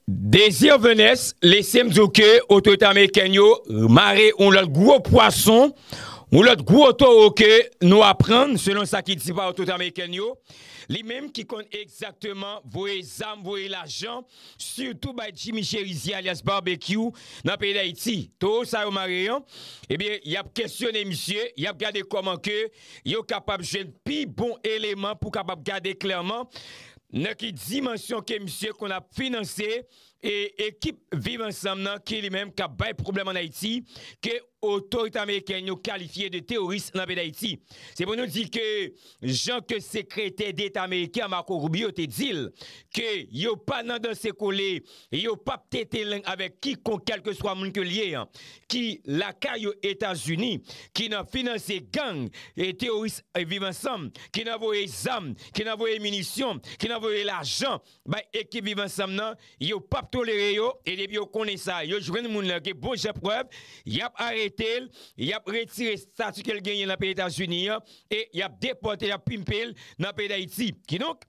Desir Venès lese m di w ke otorite amerikèn yo mare yon lòt gwo pwason, yon lòt gwo towo ke nou aprann selon sa ki di pa otorite amerikèn yo, li menm ki konn egzakteman voye zam, voye lajan, sitou bay Jimmy Cherizier alyas Barbecue nan peyi Dayiti. Towo sa yo mare an, ebyen y ap kesyone misye, y ap gade kòman ke yo kapab jwenn pi bon eleman pou kapab gade klèman Nan ki dimansyon ke misye konn ap finanse e ekip viv ansanm nan ki li menm kap bay pwoblèm an Ayiti ke otorite amerikèn yo kalifye de teworis nan peyi Dayiti? Se pou nou di ke jan ke sekretè deta ameriken an Marco Rubio te dil ke yo pa nan danse kole e yo pap tete lang avèk kikonk kèlkeswa moun ke l ye an, ki lakay yo Etazini, ki nan finanse gang e teworis Viv Ansanm, ki nan voye zam, ki nan voye minisyon, ki nan voye lajan bay ekip Viv Ansanm nan, yo pap tolere yo, e depi yo konnen sa, yo jwenn moun lan gen bon jan prèv, y ap arete l, y ap retire estati ke l genyen nan peyi Etazini an, e y ap depòte l, y ap pimpe l nan peyi Dayiti. Kidonk.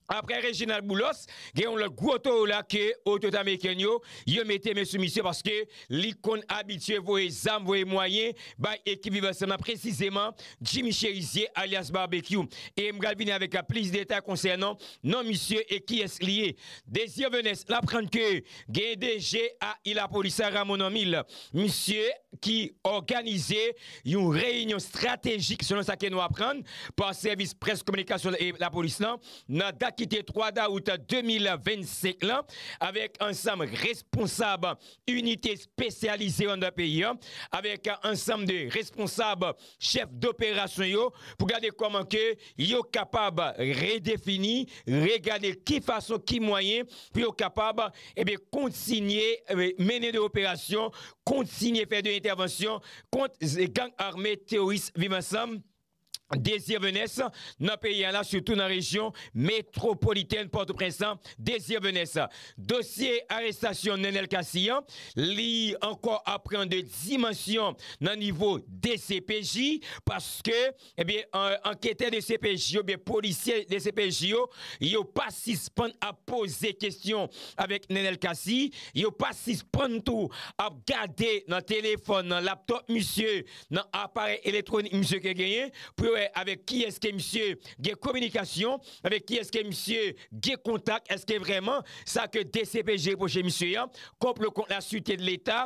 Aprè Reginald Boulos, gen yon lòt gwo towo la ke otorite amerikèn yo, yo mete men sou misye paske li konn abitye voye zam, voye mwayen bay ekip Viv Ansanm nan, presizeman Jimmy Cherizier alyas Barbecue. E m pral vini avèk plis detay konsènan non misye e kiyès li ye. Désir Venès, n aprann ke gen DG a Ilapolisa Ramonamil, misye ki òganize Yon reyinyon stratejik, selon sa ke nou aprann pa sèvis près kominikasyon lapolis lan, nan dat ki te 3 dawout 2025 lan, avèk ansanm responsab inite espesyalize yo anndan peyi an, avèk ansanm de responsab chèf doperasyon yo, pou gade kòman ke yo kapab redefini, regade ki fason, ki mwayen pou yo kapab, enben, kontinye mennen de operasyon, kontinye fè de entèvansyon, kont gang ame teyoris Viv Ansanm Désir Venès nan peyi a la sitou nan rejyon metwopolitèn Pòtoprens lan Désir Venès. Dosye arestasyon Nenel Cassy an li ankò ap pran 2 dimansyon nan nivo dcpj paske Ebyen anketè dcpj yo byen polisye dcpj yo, yo pa sispann ap poze kesyon avèk Nenel Cassy, yo pa sispann tou ap gade nan telefòn, nan laptop misye, nan aparèy eletronik misye ke genyen pou yo wè avèk kiyès ke misye gen kominikasyon, avèk kiyès ke misye gen kontak, eske vrèman sa ke dcpj reproche misye an, konplo kont la sirte de leta,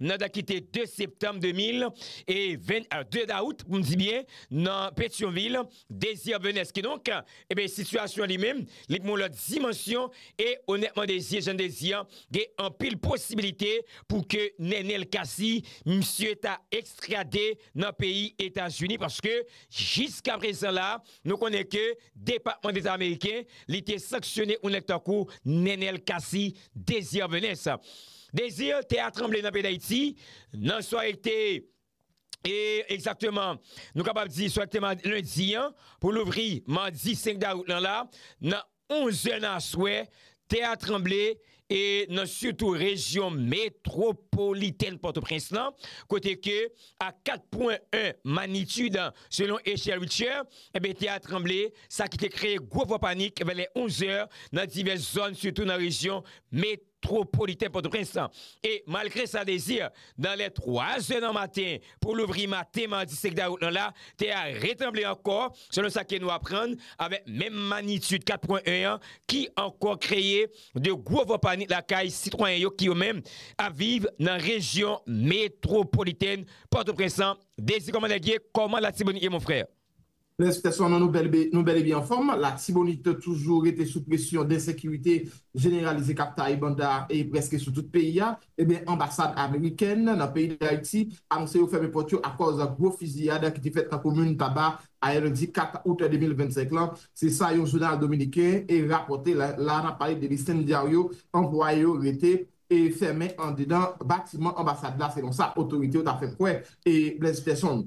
nan dat ki te 2 septanm 2022 dawout pou m di byen nan Petyonvil Désir Benes ki donk ebe sitiyasyon li menm li pran yon lòt dimansyon e onètman Désir Jean Désir gen anpil posibilite pou ke Nenel Cassy misye ta ekstrade nan peyi Etazini paske jiskaprezan la Nou konnen ke Depatman Deta Ameriken li te sanksyone yon nèg tankou Nenel Cassy Désir Venus. Désir tè a tranble nan peyi Dayiti nan sware ki te e egzakteman nou kapab di sware ki te lendi an pou louvri madi 5 dawout lan la nan Onzè nan aswè, tè a tranble e nan sitou rejyon metwopolitèn Pòtoprens lan, kote ke a 4 pwen 1 magnitude selon echèl Richter, enben tè a tranble, sa ki te kreye gwo vwa panik vè lè 11 zè nan divès zòn sitou nan rejyon metwopolitèn. Twopolitè Pòtoprens lan e malgre sa Desir nan lè 3 zè nan maten pou louvri maten madi 5 dawout lan la, tè a retranble ankò selon sa ke nou aprann avèk menm magnitid 4 pwen 1 an ki ankò kreye 2 gwo van panik lakay sitwayen yo ki yo menm ap viv nan rejyon metwopolitèn Pòtoprens lan Désir kòman nèg ye kòman latibonit ye mon frère? Respè sò non nou bèl e byen anfòm, latibonit toujou rete sou presyon densekirite jeneralize kap taye banda prèske sou tout peyi a, ebyen anbasad amerikèn nan peyi dayiti anonse yo fèmen pòt yo akòz gwo fiziyad ki te fèt nan komin taba ayè lendi 4 out 2025 lan, se sa yon jounal dominiken rapòte, la nap pale de Listín Diario, anplwaye yo rete fèmen andedan batiman anbasad la selon sa otorite yo ta fè kwè Blaise Persson.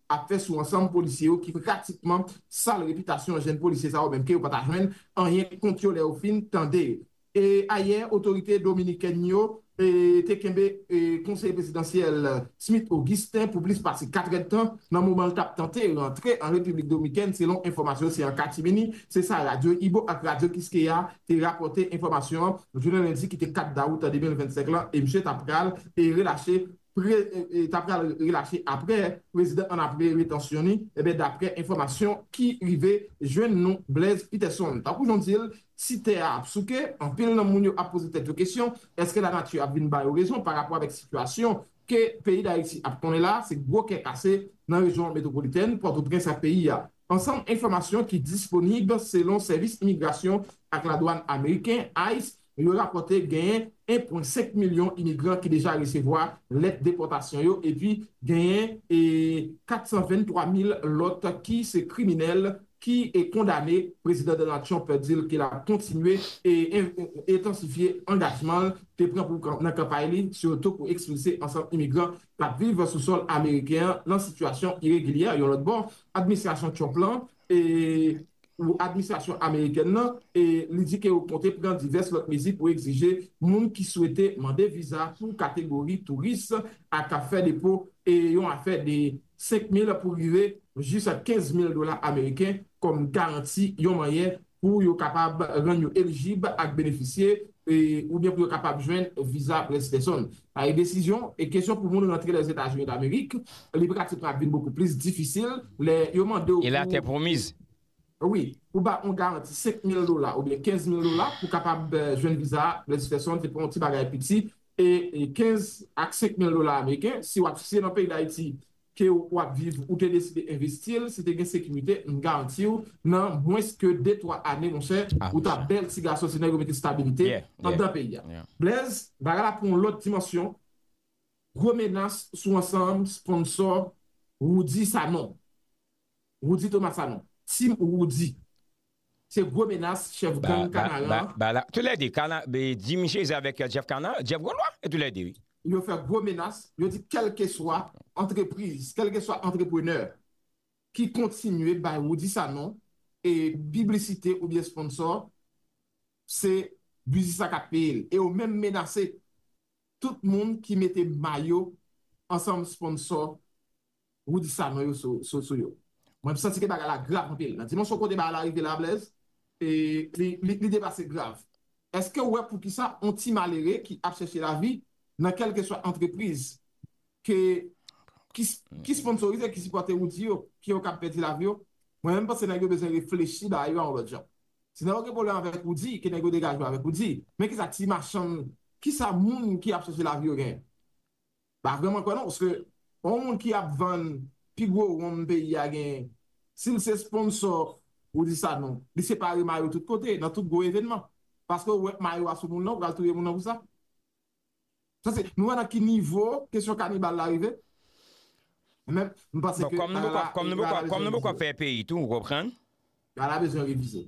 ap fè sou ansanm polisye yo ki pratikman sal repitasyon jenn polisye sa yo menm ke yo pa ta jwenn anyen kont yo lè yo fin tande yo. Ayè otorite dominikèn yo te kenbe konseye prezidansyèl Smith Augustin pou plis pase katrèdtan nan moman l t ap tante rantre an Repiblik Domikèn selon enfòmasyon se an katimini, se sa radyo Ibo ak radyo Kiskeya te rapòte enfòmasyon an jounen lendi ki te 4 dawout 2025 lan e misye ta pral relache ta pral relache aprè prezidan an aprè retansyon ni ebyen daprè enfòmasyon ki rive jwenn nou Blaise Peterson tankou jan w di l si tè a ap souke anpil nan moun yo ap poze tèt yo kesyon eske lanati ap vin ba yo rezon pa rapò avèk sitiyasyon ke peyi dayiti ap konnen la se gwo kè kase nan rejyon metwopolitèn pòtoprens ak peyi a ansanm enfòmasyon ki disponib selon sèvis imigrasyon ak ladwàn ameriken ice Yo rapòte genyen 1.5 milyon imigran ki deja resevwa lèt depòtasyon yo epi genyen 423 mil lòt ki se kriminèl ki kondane, Prezidan Donald Trump di l ke l ap kontinye entansifye angajman l te pran pou nan kanpay li sitou pou ekspilse ansanm imigran k ap viv sou sòl ameriken an nan sitiyasyon iregilyè. Yon lòt bò, administrasyon Trump lan. pou administrasyon amerikèn nan e li di ke yo konte pran divès lòt mezi pou egzije moun ki swete mande viza pou kategori touris ak fè depo yon afè de 5 mil pou rive jis 15 mil dola ameriken kòm garanti yon manyè pou yo kapab rann yo elijib ak benefisye oubyen pou yo kapab jwenn viza près pèsonn. Pa e desizyon e kesyon pou moun rantre Lèzetazini Damerik li pratikman ap vin bokou plis difisil lè yo mande w E la tè pwomiz? Wi, pou ba on garanti 5 mil dola oubyen 15 mil dola pou kapab jwenn viza près pèsonn se pa on ti bagay piti e 15 ak 5 mil dola ameriken si w ap siye nan peyi Dayiti kew wap viv ou te deside envestil si te gen sekirite m garantiw nan mwens ke de twa ane monchè ou ta bèl ti gason se nèg yo mete stabilite andan peyi a. Blèz, bagay la pran yon lòt dimansyon, gwo menas sou ansanm sponsò Roody Sanon. Roody Thomas Sanon. Team Roody. Se gwo menas chèf gang kanaran. Tou lè 2 kana Jimmy Jezi avèk Jeff kana Jeff gon lwa tou lè 2 wi. Yo fè gwo menas, yo di kèlkeswa antrepriz, kèlkeswa antreprenè ki kontinye bay Roudy Sanon e piblisite oubyen sponsò se biznis la kap peye l e yo menm menase tout moun ki mete mayo ansanm sponsò Rudy Sanon yo sou yo. Mwen santi ke bagay la grav anpil. Nan dimansyon kote bagay la rive la Blaise, li depase grav. Eske ou wè poukisa on ti malere ki ap chèche lavi nan kèlkeswa antrepriz ke ki sponsorize, ki sipòte Rudy yo, ke yo kab pèdi lavi yo? Mwen menm panse nèg yo bezwen reflechi bagay yo a on lòt jan. Si nèg yo gen pwoblèm avèk Rudy, ke nèg yo degaje yo avèk Rudy. Men kisa ti machann, kisa moun ki ap chèche lavi yo genyen? Pa vrèman kwè non paske yon moun ki ap vann pi gwo wonm peyi a genyen si l se sponsò ou di sa non li separe mayo tout kote nan tout gwo evènman paske ou wè mayo a sou moun nan ou pral touye moun nan pou sa sa se nou wè nan ki nivo kesyon kanibal la rive men m panse ke rara kòm nou poko ap fè peyi tou ou konprann. Lala bezwen revize.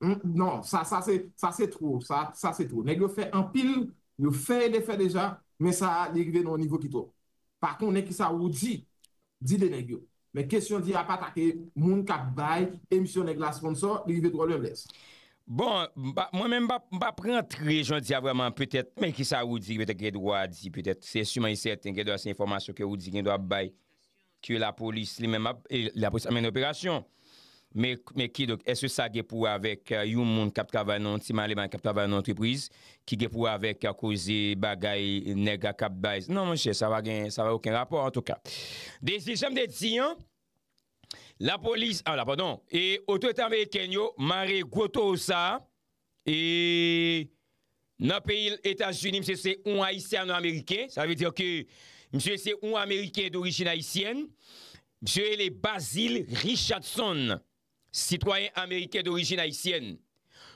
Non sa sa se sa se two sa sa se two nèg yo fè anpil yo fè e defè deja men sa a li rive nan yon nivo ki two pa konnen kisa Roody di de nèg yo men kesyon di a pa atake moun kap bay emisyon nèg la sponsò li rive two lwen bless. Bon mwen menm m pap rantre jodi a vreman petèt men kisa Roody petèt gen dwa di petèt se siman e sèten gen dwa se enfòmasyon ke Roody gen dwa ap bay. Ke lapolis li menm ap, e lapolis ap mennen operasyon. Men, men kidonk, èske sa gen pou wè avèk yon moun k ap travay nan yon ti maleman, k ap travay nan yon antrepriz, ki gen pou wè avèk koze bagay nèg a k ap bay? Non, monchè, sa pa gen, sa pa gen okenn rapò, antouka. Dezyèm, jan m te di an, lapolis, ala padon, e otorite amerikèn yo mare gwo towo sa a, E Nan peyil etazini misye se yon ayisyano ameriken sa vle dire ke misye se yon ameriken dorijin ayisyèn misye rele Basil Richardson sitwayen ameriken dorijin ayisyèn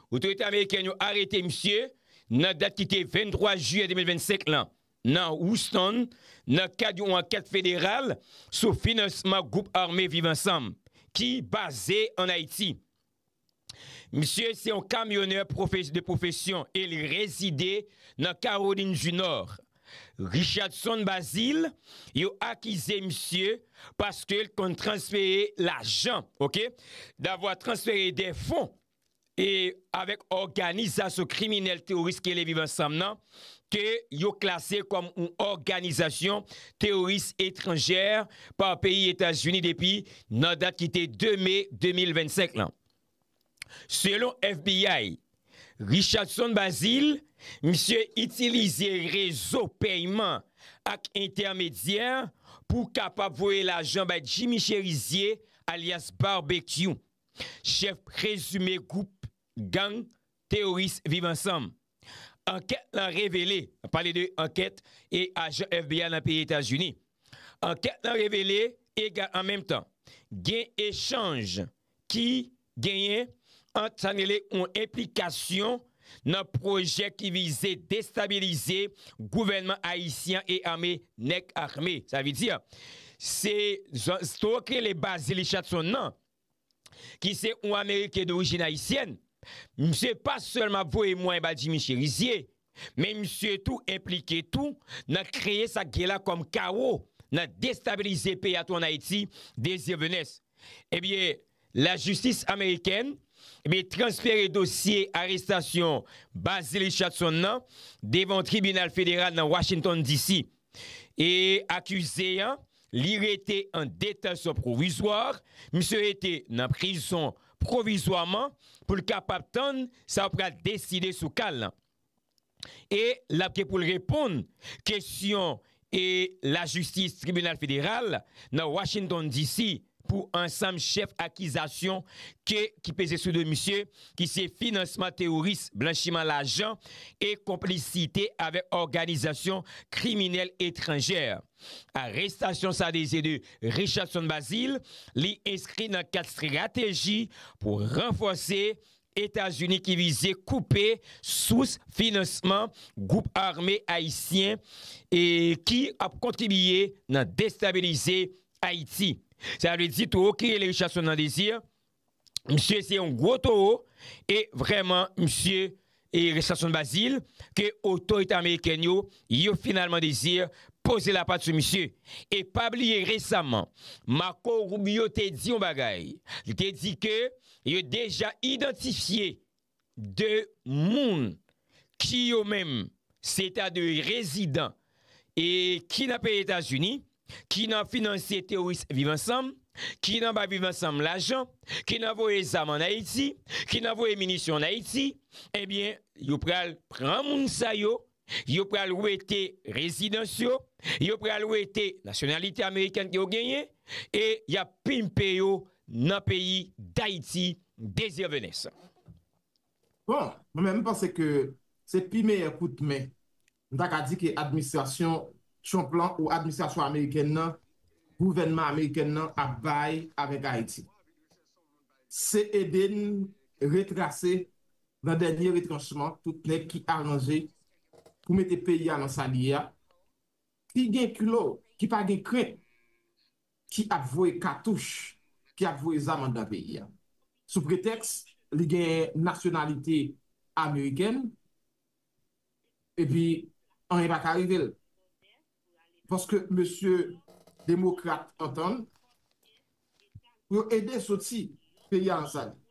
otorite amerikèn yo arete misye nan dat ki te 23 jiyè 2025 lan nan Houston nan kad yon ankèt federal sou finansman gwoup ame viv ansanm ki baze an ayiti. Misye se yon kamyonè de pwofesyon e li rezide nan Kawolin di Nò. Richardson Bazile, yo akize misye paske l konn transfere lajan, ok, davwa transfere dè fon e avèk òganizasyon kriminèl teworis ki rele Viv Ansanm nan, ke yo klase kòm yon òganizasyon teworis etranjè pa peyi Etazini depi nan dat ki te 2 me 2025 lan. Selon FBI, Richardson Bazile, misye itilize rezo pèyman ak entèmedyè pou kapab voye lajan bay Jimmy Cherizier alyas Barbecue, chèf prezime gwoup gang teyoris viv ansanm. Ankèt lan revele, nap pale de ankèt e ajan FBI lan peyi Etazini. Ankèt lan revele ega an menm tan gen echanj ki genyen ant sa n rele yon enplikasyon nan pwojè ki vize destabilize gouvènman ayisyen an e ame nèg ame. Sa vle di se zòn, zòn ki rele baz Zili Chatson nan. ki se yon ameriken dorijin ayisyèn, misye pa sèlman ap voye mwayen ba Jimmy Cherizier, men misye tou enplike tou nan kreye sa k gen la kòm kawo nan destabilize peyi a tou an Ayiti, Désir Venès. Ebyen, lajistis amerikèn, ebyen transfere dosye arestasyon Bazil Richardson nan devan yon tribinal federal nan Washington DC. E akize an, li rete an detansyon pwovizwa, misye rete nan prizon pwovizwaman pou l kapab tann sa yo pral deside sou ka l lan. E l ap gen pou l reponn kesyon e lajistis tribinal federal nan Washington DC. pou ansanm chèf akizasyon ke ki peze sou do misye ki se finansman teworis, blanchiman lajan e konplisite avèk òganizasyon kriminèl etranjè. Arestasyon sa deze de Richardson Bazile, li enskri nan kad strateji pou ranfòse Etazini ki vize koupe sous finansman gwoup ame ayisyen ki ap kontribiye nan destabilize Ayiti. Sa vle di towo ki rele Richardson nan Desir, misye se yon gwo towo e vrèman misye e Richardson Bazil ke otorite amerikèn yo, yo finalman Desir poze lapat sou misye. E pa bliye resaman, Marco Rubio te di yon bagay, li te di ke yo deja idantifye de moun ki yo menm se ta de rezidan e ki nan peyi Etazini, ki nan finansye teworis Viv Ansanm, ki nan bay Viv Ansanm lajan, ki nan voye zam an Ayiti, ki nan voye minisyon an Ayiti, ebyen yo pral pran moun sa yo Yo pral wete rezidans yo, yo pral wete nasyonalite amerikèn ke yo genyen e y ap pimpe yo nan peyi Dayiti Dezirvelens. Bon, mwen menm m panse ke se pi meyè kout men m ta ka di ke administrasyon Trump lan ou administrasyon amerikèn nan, gouvènman amerikèn nan ap bay avèk Ayiti. Se ede n retrase nan dènye retranchman tout nèg ki aranje pou mete peyi a nan sa li ye a, ki gen kilo, ki pa gen krent, ki ap voye katouch, ki ap voye zam anndan peyi a. Sou pretèks li gen nasyonalite amerikèn, epi anyen pa ka rive l. paske mesye demokrat antann pou yo ede soti peyi a nan sa li ye.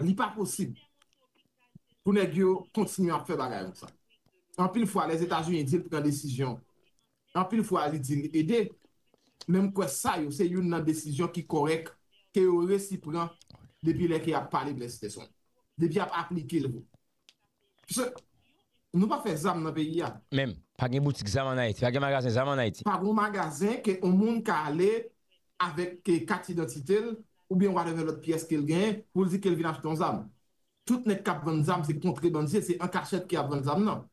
Li pa posib pou nèg yo kontinye ap fè bagay konsa. Anpil fwa Lèzetazini di l pran desizyon, anpil fwa li di l ede, men m kwè sa yo se youn nan desizyon ki kòrèk ke yo resi pran depi lè ke y ap pale blèsitèson, depi y ap aplike l vre. Pse Nou pa fè zam nan peyi a. Menm. Pa gen boutik zam an Ayiti. Pa gen magazen zam an Ayiti. Pa gon magazen ke on moun ka ale avèk kat idantite l oubyen whatever lòt pyès ke l genyen pou l di ke l vin achte on zam. Tout nèg k ap vann zam se kontrebandye, se an kachèt ke y ap vann zam nan.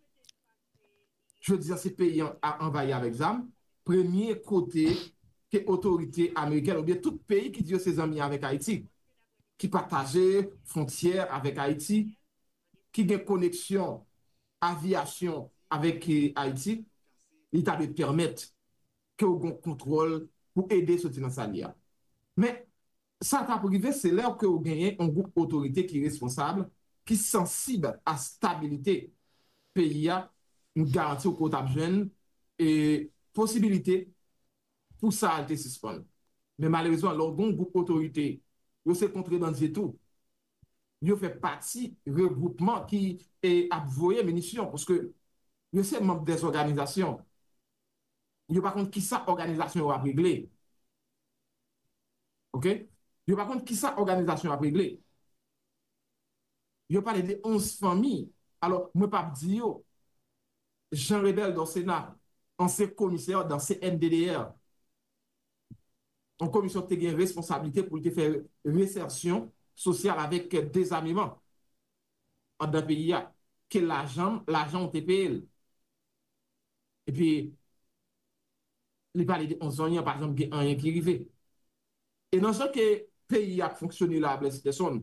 Jodi a se peyi an a anvayi avèk zam, premye kote ke otorite amerikèn oubyen tout peyi ki di yo se zanmi avèk Ayiti, ki pataje fwontyè avèk Ayiti, ki gen koneksyon aviyasyon avèk Ayiti, li ta dwe pèmèt ke ou gen yon kontwòl pou ede soti nan sa l ye a. Men, Sa kap rive se lè ke ou genyen yon gwoup otorite ki responsab, ki sansib a stabilite peyi a, m garanti w ke w tap jwenn e posibilite pou sa a te sispann. Men malerezman lè w gen yon gwoup otorite, yo se kontrebandye tou, yo fè pati regwoupman ki e ap voye minisyon, paske yo se manb dè zòganizasyon, yo pa konn kisa òganizasyon yo ap regle. Ok yo pa konn kisa òganizasyon ap regle yo pale de 11 fanmi alò mwen pap di yo Jean Rebel Dorcena ansyen komisè dan CNDDR yon komisyon ki te gen responsablite pou li te fè resèsyon sosyal avèk dezameman andan peyi a ke lajan lajan ou te peye l epi li pale de on zanyan pa janm gen anyen ki rive. E nan jan ke peyi a ap fonksyone la a Blaise Peson,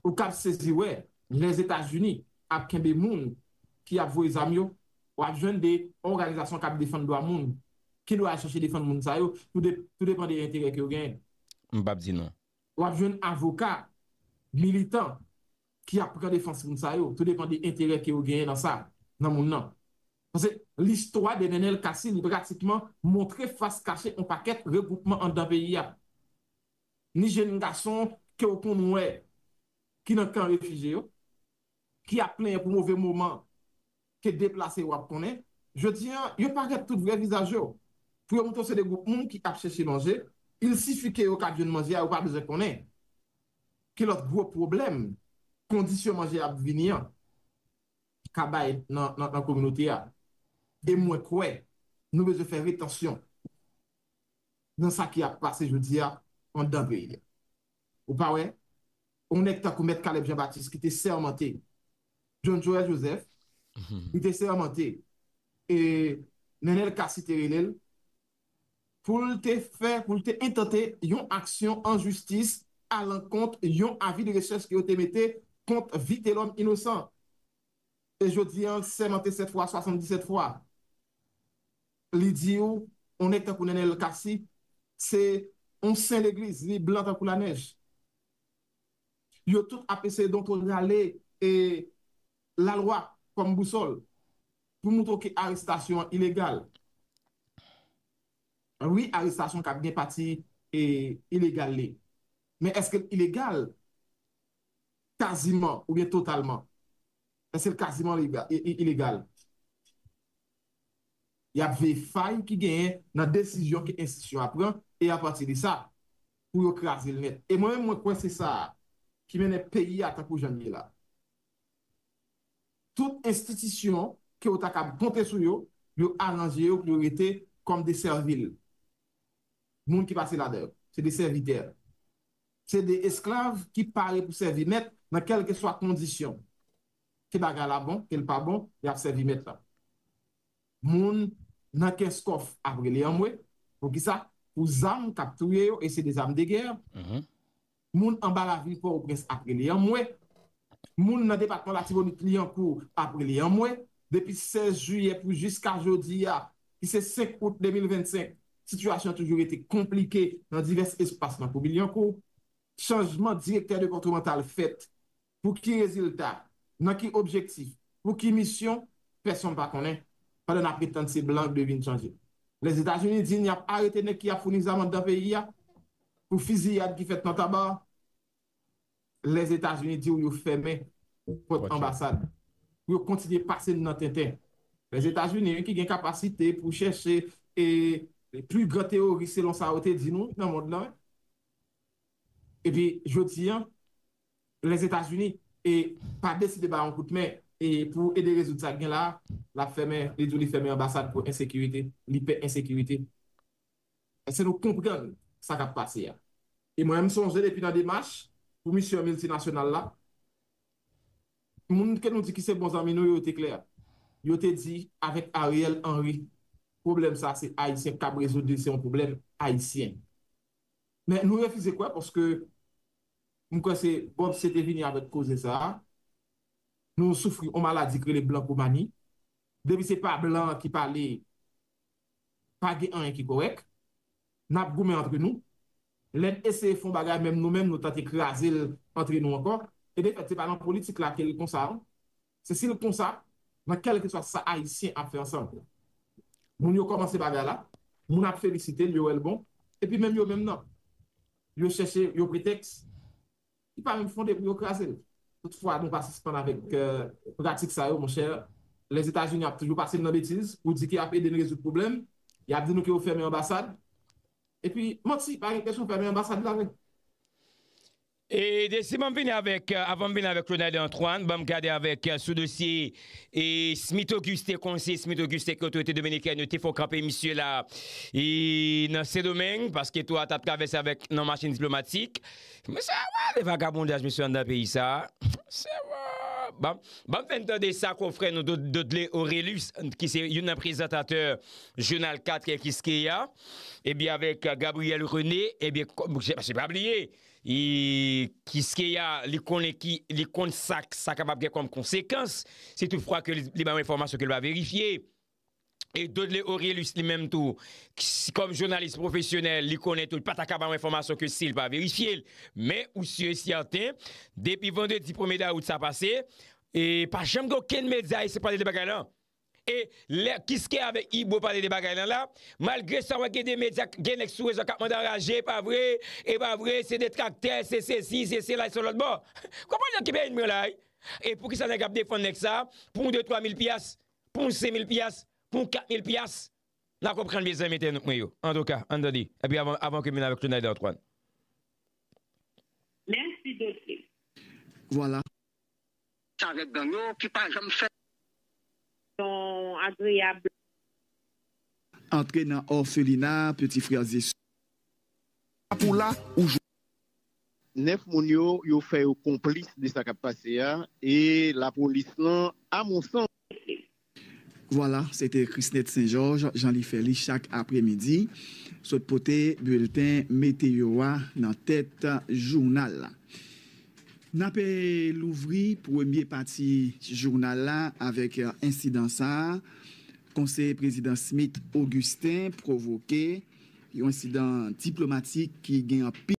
ou kab sezi wè Lèzetazini ap kenbe moun ki ap voye zam yo, w ap jwenn de òganizasyon k ap defann dwa moun ki dwe al chache defann moun sa yo tou de, tou depan de enterè ke yo genyen. M p ap di non. W ap jwenn avoka, militan, ki ap pran defans moun sa yo, tou depan de enterè ke yo genyen nan sa, nan moun nan. Pase listwa de Nenel Cassy li pratikman montre fas kache on pakèt regwoupman anndan peyi a. Ni jenn gason ke ou konn wè ki nan kan refije yo, ki ap plenyen pou move moman ke deplase yo ap konnen, jodi an, yo parèt tout vrè vizaj yo. Pou yo montre w se de gwoup moun ki ap chèche manje, il sifi ke yo ka jwenn manje a, yo pa bezwen konnen ki lòt gwo pwoblèm kondisyon manje ap vini an ka bay nan kominote a. E mwen kwè nou bezwen fè retansyon nan sa ki ap pase jodi a andan peyi a. Ou pa wè, yon nèg tankou Mèt Caleb Jean Baptiste ki te sèmante John Joel Joseph, li te sèmante e Nenel Cassy te rele l pou l te fè, pou l te entante yon aksyon an jistis alankont yon avi de rechèch ke yo te mete kont Vitelhomme Innocent. E jodi an l sèmante 7 fwa, 77 fwa. Li di ou, on nèg tankou Nenel Cassy, se on sen legliz, li blan tankou lanèj. Yo tout ap eseye donto rale e la lwa kòm bousòl pou moutre w ke arestasyon an ilegal. Wi arestasyon kab gen pati e ilegal li. Men èske l ilegal kaziman oubyen totalman? Èske l kaziman ilegal? Y ap veye fay ki genyen nan desizyon ke enstitisyon a pran e apati de sa, pou yo kraze l nèt. E mwen menm mwen kwè se sa a ki mennen peyi a tankou jan l ye la. Tout enstitisyon ke ou ta kab konte sou yo, yo aranje yo pou yo rete kòm de sèvil. Moun ki pase ladan yo, se de sèvitè. Se de esklav ki pare pou sèvi mèt nan kèlkeswa kondisyon. ke bagay la bon, ke l pa bon, y ap sèvi mèt lan. Moun nan Kenskòf ap rele anmwe. Pou ki sa? Pou zam k ap touye yo e se de zam de gè. Moun anba lavil Pòtoprens ap rele anmwe. Moun nan depatman Latibonit, Lyankou ap rele anmwe. Depi 16 jiyè pou jiska jodi a, ki se 5 out 2025, sitiyasyon an toujou rete konplike nan divès espas nan komin Lyankou. Chanjman direktè depatmantal fèt. Pou ki rezilta? Nan ki objektif? Pou ki misyon? Pèsonn pa konnen, pandan n ap ret tann se blan k dwe vin chanje. Lèzetazini di n y ap arete nèg ki ap founi zam anndan peyi a pou fiziyad ki fèt nan Taba. Lèzetazini di w yo fèmen pòt anbasad pou yo kontinye pase n nan tenten. Lèzetazini ki gen kapasite pou chèche pli gran teworis selon sa yo te di nou nan mond lan. Epi jodi an, Lèzetazini pa deside ba yon kout men pou ede rezoud sa k gen la a, l ap fèmen, li di w li fèmen anbasad pou ensekirite, li pè ensekirite. Èske nou konprann sa k ap pase a? E mwen menm m sonje depi nan demach pou misyon miltinasyonal la, moun ke nou di ki se bon zanmi nou yo, yo te klè. Yo te di avèk Ariel Henry, pwoblèm sa a se Ayisyen ki kab rezoud li, se yon pwoblèm Ayisyen. Men nou refize kwè paske M kwè se Bob C te vini avèk koze sa a. Nou soufri on maladi ki rele blankomani. Depi se pa blan an ki pale, pa gen anyen ki kòrèk. N ap goumen antre nou. Lè n eseye fè on bagay menm nou menm nou tante kraze l antre nou ankò. E defèt se pa nan politik la ke l konsa non. Se si l konsa, nan kèlkeswa sa Ayisyen ap fè ansanm. Moun yo kòmanse bagay la, moun ap felisite l, yo wè l bon, epi menm yo menm nan, yo chèche yon pretèks ki pa menm fonde pou yo kraze l. Toutfwa, nou pa sispann avèk pratik sa yo, monchè. Lèzetazini ap toujou pase n nan betiz pou di ke y ap ede n rezoud pwoblèm. Y ap di nou ke yo fèmen anbasad. Epi, manti, pa gen kesyon fèmen anbasad la vre. E de si banm vini avèk, avanm vini avèk Ronald Antoine, banm gade avèk sou dosye e Smith Auguste, konseye Smith Auguste ke otorite dominikèn yo te fon kanpe misye la e nan Sendomeng, paske tou a tap travèse avèk nan machin diplomatik. Mesye a wale vagabondaj mesye anndan peyi sa a. Se wa! Banm, banm fèn tande sa konfrè nou Dod, Dodley Orelus ki se youn nan prezantatè jounal 4 kiskeya, ebyen avèk Gabriel René, ebyen, paske pa bliye! E kiskeya li konnen ki, li konn sa k, sa kapab gen kòm konsekans, si tout fwa ke li ba yon enfòmasyon ke l pa verifye. E Dodley Orélus li menm tou, kòm jounalis pwofesyonèl, li konnen tou, li pa ta ka ba yon enfòmasyon ke si l pa verifye l. Men, ou si e sèten, depi vandredi premye dawout sa pase, e pa janm gen okenn medya esye pale de bagay la. E lè kiske avèk ibo pale de bagay lan la malgre sa wè gen de medya gen nèg sou rezo a kap mande anraje epa vre epa vre se detraktè se sesi se sela e se lòt bò konprann nan ki peyi mwen la wi e poukisa nèg ap defann nèg sa pou yon de twa mil pyas pou yon sen mil pyas pou yon kat mil pyas na konprann mezanmi entènot mwen yo antouka ann tande epi avan ke m vin avèk Tonèl dè Antwàn. Mèsi Dodley. Vwala. Chavèk gang yo ki pa janm fè. Yon agreyab. Antre nan òfelina peti frè e sè. Lap ou la ou jwenn. Nèf moun yo yo fè yo konplis de sa kap pase a e lapolis lan a mon sans. Vwala, se te Chrisnette Saint Georges jan li fè li chak apre midi, sot pote bilten meteyo a nan tèt jounal la. N ape louvri premye pati jounal la avèk ensidan sa a, Konseye Prezidan Smith Augustin pwovoke yon ensidan diplomatik ki gen anpil.